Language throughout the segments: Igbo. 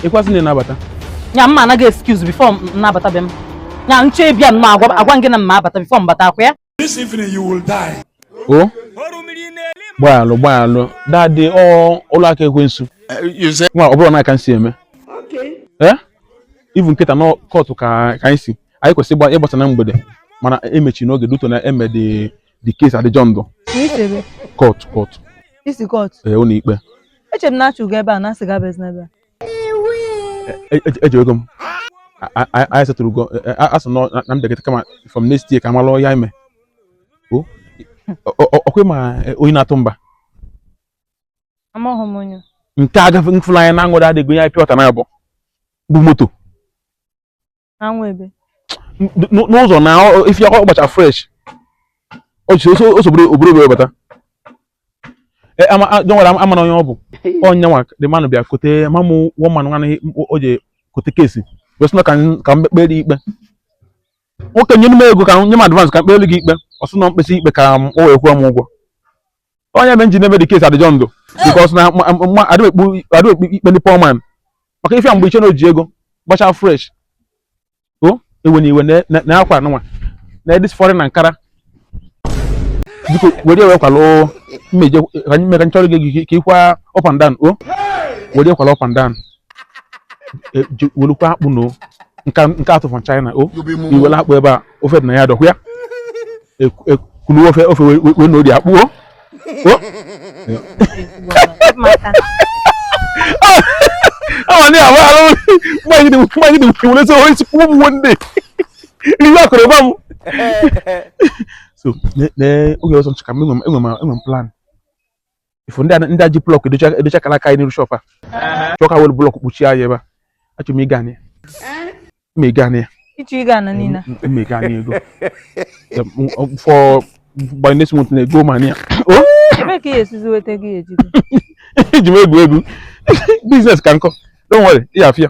ịkwasị na-abata ya m ma-ana gị excuse before m na-abata be m ya nche ịbịa nnọọ agwa agwa gị na m ma-abata before m bata akwa ya This evening you will die. o gbaalụ gbaalụ dadị ọlụ aka ekwensu nwa ọ bụrụ na aka nsi eme ee ivu nkịta na kọtụ ka ka anyị si anyị kwesịrị ịgba- ịgbasa na mgbede mana emechi n'oge duto na emedị the case adjourned court court ị sị court ee ụlọ ikpe eche m na-achụ gị ebe a na-asị gị abịazị n'ebe a eji ego m anyị setụrụ ugo asụ na mbịagịta kama from next year ka m malụ ya ime ọkwa ma onye na-atụ mba amaghị m onye nke agafe mfụla anya na aṅụrị adịghị onye anyị pịa ọta na abụọ bụ moto anwụ ebe n'ụzọ na ifi ọ gbacha fresh o sogburu obodo wee bata e, don't worry amara m onye ọ bụ ọ nyanwa the man bịa court mamụ woman nwanne o ji court case wee sị na ka m kpeelụ gị ikpe nwoke nye m ego ka nye m advance ka m kpee gị ikpe ọ sị na m kpesịa ikpe ka o wee kwụọ m ụgwọ ọ nya mere m ji na-eme the case adjourned because na adị m ekpe ikpe ndị poor man maka ife a mgbe i che na o ji ego gbacha fresh o ewe na iwe na akwa anụnwa na this foreign Ankara biko were ewe kwalụ mmeje ka anyị mere nchọrọ gị ka ị kwaa up and down o were kwalụ up and down e, welukwa akpụ na nke atụ from China o iwele akpụ ebe a ofe dị na ya dọkwa ya e, e, kulu ofe ofe wee na-eri akpụ o awa ni awa alo mmanyi di mmanyi di wele so oyi sikwu mu one day iwe akọrọ ba mu so ne ne oge ọsọ nchịka m enwe m plan ifu ndị ndị a ji block edocha edocha kara aka anyị n'iru shop a chọọ ka were block kpuchie anyị ebe a achọ m ịga na ya m ịga na ya ịchọ ịga na niile m ịga na ego for by next month na ego mania o ebee ka ị esizi weta gị ejigo eji m egwu egwu business ka nkọ don't worry ị afịa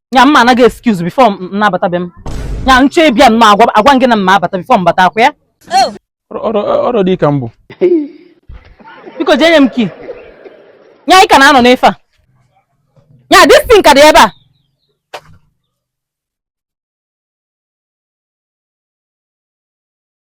nya m ma-ana gị excuse before m na-abata be m nya nche bịa m agwa agwa gị na m ma-abata before m bata akwa ya ọrụ dị ka mbụ biko jee nye m key nya ị ka na-anọ n'ife a nya this thing ka dị ebe a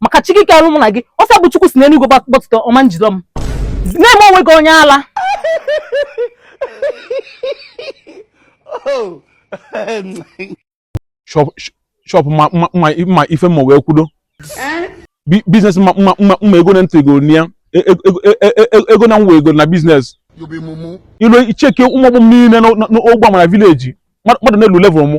maka chi gị ka ọrụ mụ na gị ọsọ bụ chukwu si n'eluigwe gbọtụta ọma njidọ m na-eme onwe gị onye ala oh. shọpụ ma ife mma wee kwudo biznes mma ego na ntị ego ya e, e, e, ego na nwa ego na biznes ilu icheke ụmụ ọgbọ m niile n'ogbe a ma na vileji mmadụ na-elu level mụ